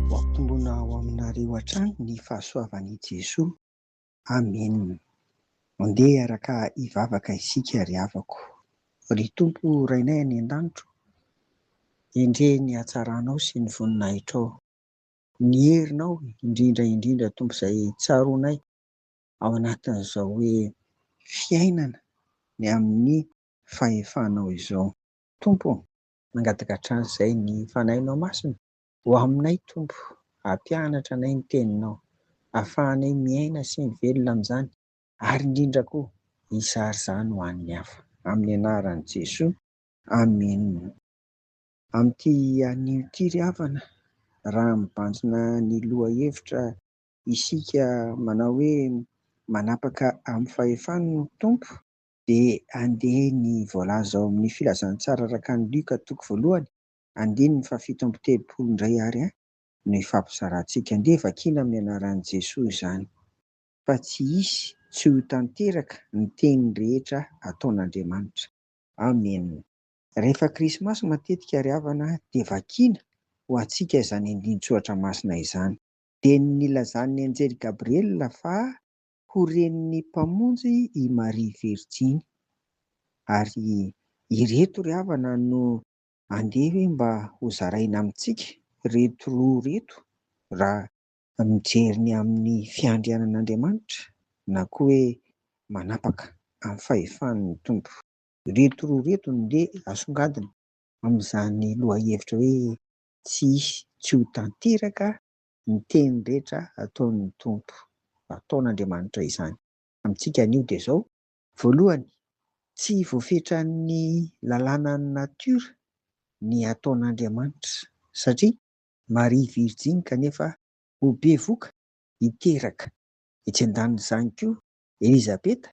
Hoampongona ao aminareo hatrany ny fahasoavan' i Jesoa. Amena. Mandeha hiaraka hivavaka isika ry havako. Ry Tompo Rainay any an-danitro, endrehy ny hatsaranao sy ny voninahitrao. Ny herinao indrindra indrindra Tompo izay tsaroanay ao anatin'izao hoe fiainana ny amin'ny fahefanao izao. Tompo ô, mangataka hatrany izay ny Fanahinao Masina ho aminay Tompo, hampianatra anay ny Teninao, hahafahanay miaina sy mivelona amin'izany, ary indrindra koa hizara izany ho an'ny hafa. Amin'ny anaran'i Jesoa, Amen. Amin'ity anio ity ry havana, raha mibanjina ny lohahevitra isika manao hoe manapaka amin'ny fahefan'ny Tompo, dia andeha ny voalaza ao amin'ny Filazantsara araka an'i Lioka toko voalohany, andininy fahafito amby telopolo indray ary no ifampizarantsika. Andeha vakiana amin'ny anaran'i Jesoa izany, fa tsy hisy tsy ho tanteraka ny teniny rehetra ataon'Andriamanitra. Amena. Rehefa Krismasy matetika ry havana dia vakiana ho antsika izany andinin-tsoratra masina izany. Dia ny nilazan'ny Anjely Gabriela fa ho renin'ny Mpamonjy i Maria Virjiny. Ary ireto ry havana no andeha hoe mba ho zaraina amintsika ireto roa ireto raha mijery ny amin'ny fiandrianan'Andriamanitra na koa hoe manapaka amin'ny fahefan'ny Tompo. Ireto roa ireto no ndeha asongadina amin'izany lohahevitra hoe tsy hisy tsy ho tanteraka ny teny rehetra ataon'ny Tompo, ataon'Andriamanitra izany amintsika anio dia izao, Voalohany, tsy voafetran'ny lalànan'ny natiora ny ataon'Andriamanitra, satria Maria virjiny kanefa ho bevoka hiteraka. Etsy an-danin'izany koa, Elizabeta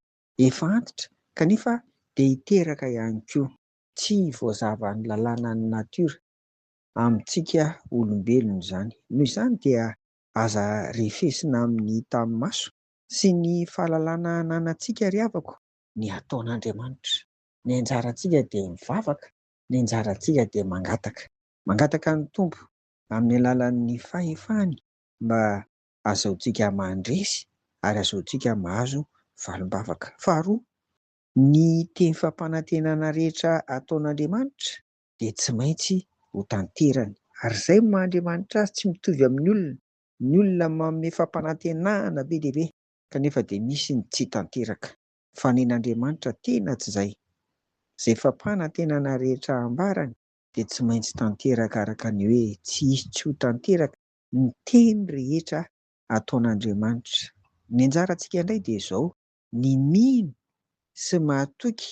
efa antitra kanefa dia hiteraka ihany koa. Tsy voazavan'ny lalànan'ny natiora amintsika olombelona izany. Noho izany dia aza refesina amin'ny tanimaso sy ny fahalalana ananantsika ry havako. Ny ataon'Andriamanitra. Ny anjarantsika dia mivavaka, ny anjarantsika dia mangataka. Mangataka ny Tompo amin'ny alalan'ny fahefany mba hazahoantsika mandresy ary hazahoantsika mahazo valim-bavaka. Faharoa, ny teny fampanantenana rehetra ataon'Andriamanitra dia tsy maintsy ho tanterany. Ary izay no maha-Andriamanitra Azy tsy mitovy amin'ny olona, ny olona manome fampanantenana be dia be kanefa dia misy ny tsy tanteraka. Fa ny an'Andriamanitra tena tsy izay. Izay fampanantenana rehetra ambarany dia tsy maintsy tanteraka araka ny hoe tsy hisy tsy ho tanteraka ny teny rehetra ataon'Andriamanitra. Ny anjarantsika indray dia izao, ny mino sy mahatoky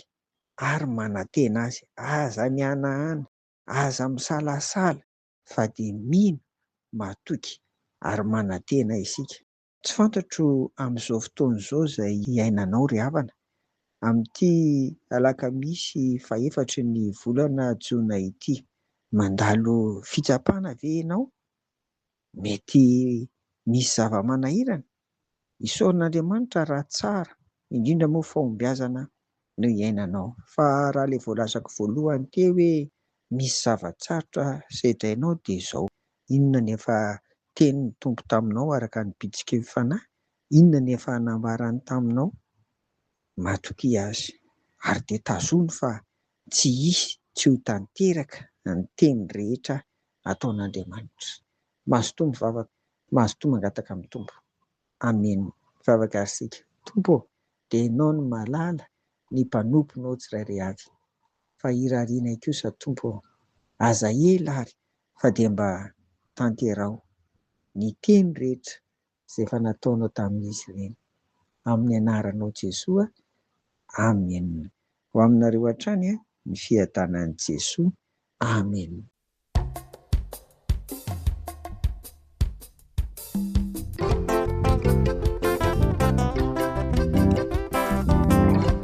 ary manantena azy. Aza mihanahana, aza misalasala fa dia mino, matoky ary manantena isika. Tsy fantatro amin'izao fotoana izao izay iainanao ry havana, amin'ity alakamisy fahefatry ny volana jona ity. Mandalo fitsapana ve ianao? Mety misy zava-manahirana? Isaorin'Andriamanitra raha tsara indrindra moa fahombiazana no iainanao. Fa raha ilay voalazako voalohany teo hoe misy zava-tsarotra sedrainao dia izao, inona ny efa tenin'ny Tompo taminao araka ny bitsiky ny Fanahy? Inona ny efa nambarany taminao? Matokia Azy. Ary dia tazono fa Tsy hisy tsy ho tanteraka ny teny rehetra ataon'Andriamanitra. Mazotoa mivavaka, mazotoa mangataka amin'ny Tompo. Amen. Mivavaka ary isika. Tompo ô, dia Ianao no mahalala ny mpanomponao tsirairay avy. Fa irarianay kosa Tompo ô, aza ela ary fa dia mba tanteraho ny teny rehetra izay efa nataonao tamin'izy ireny. Amin'ny anaranao Jesoa, Amen. Ho aminareo hatrany ny fiadanan'i Jesoa. Amen.